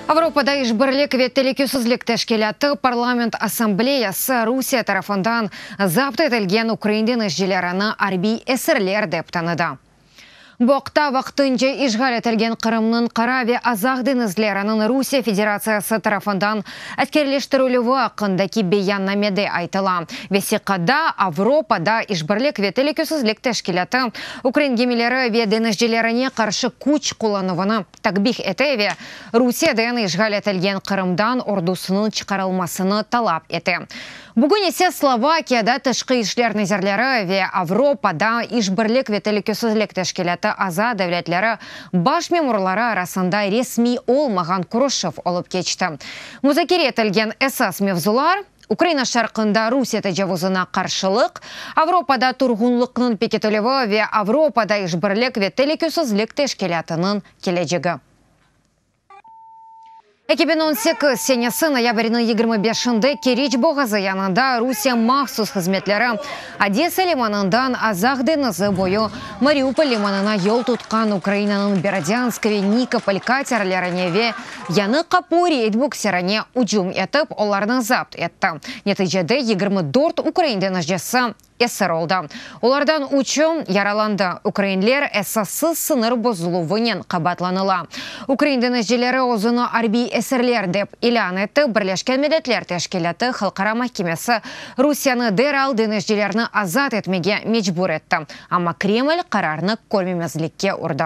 Avropada İşbirlik ve Telükesizlik Teşkilâtı Parlament Assambleyası Rusiye tarafından zapt etilgen ukrain deñizcilerini arbiy esirler dep tanıdı. Bu aqta vaqtınca işğal etilgen Qırımnıñ Qara ve Azaq deñizleriniñ Rusiye Federatsiyası tarafından Askerleştirilüvi aqqındaki beyannamede aytıla, vesiqada Avropada İşbirlik ve Telükesizlik Teşkilâtı ukrain gemileri ve deñizcilerine qarşı küç qullanuvını takbih ete ve Rusiyeden işğal etilgen Qırımdan ordusınıñ çıqarılmasını talap ete. Bugün ise Slovakiyada Tışqı işler nazirleri ve Avropada İşbirlik ve Telükesizlik Teşkilâtı aza devletleri baş memurları arasında resmiy olmağan körüşüv olıp keçti. Muzakere etilgen esas mevzular, Ukraina şarqında Rusiye tecavuzına qarşılıq, Avropada turğunlıqnıñ pekitilüvi ve Avropada İşbirlik ve Telükesizlik Teşkilâtınıñ kelecegi. Eki biñ on sekiz senesi noyabrniñ yigirmi beşinde Keriç boğazı yanında Rusiye mahsus hızmetleri Odesa limanından Azaq deñizi boyu Mariupol limanına yol tutqan Ukrainanıñ Berdyansk ve Nikopol katerlerine ve Yanıq qapu reyd bukserine ücüm etip, olarnı zapt etti. Neticede yigirmi dört ukrain deñizcisi esir oldı. Olardan üçü yaralandı. Ukrainler esassız sıñır bozuluvınen qabaatlanıla. Ukrain denizcileri özüni arbiy esirler dep ilân etti, Birleşken Milletler Teşkilâtı Halqara mahkemesi Rusiyanı deral denizcilerni azat etmege mecbur etti, amma Kreml qararnı körmemezlikke urdı.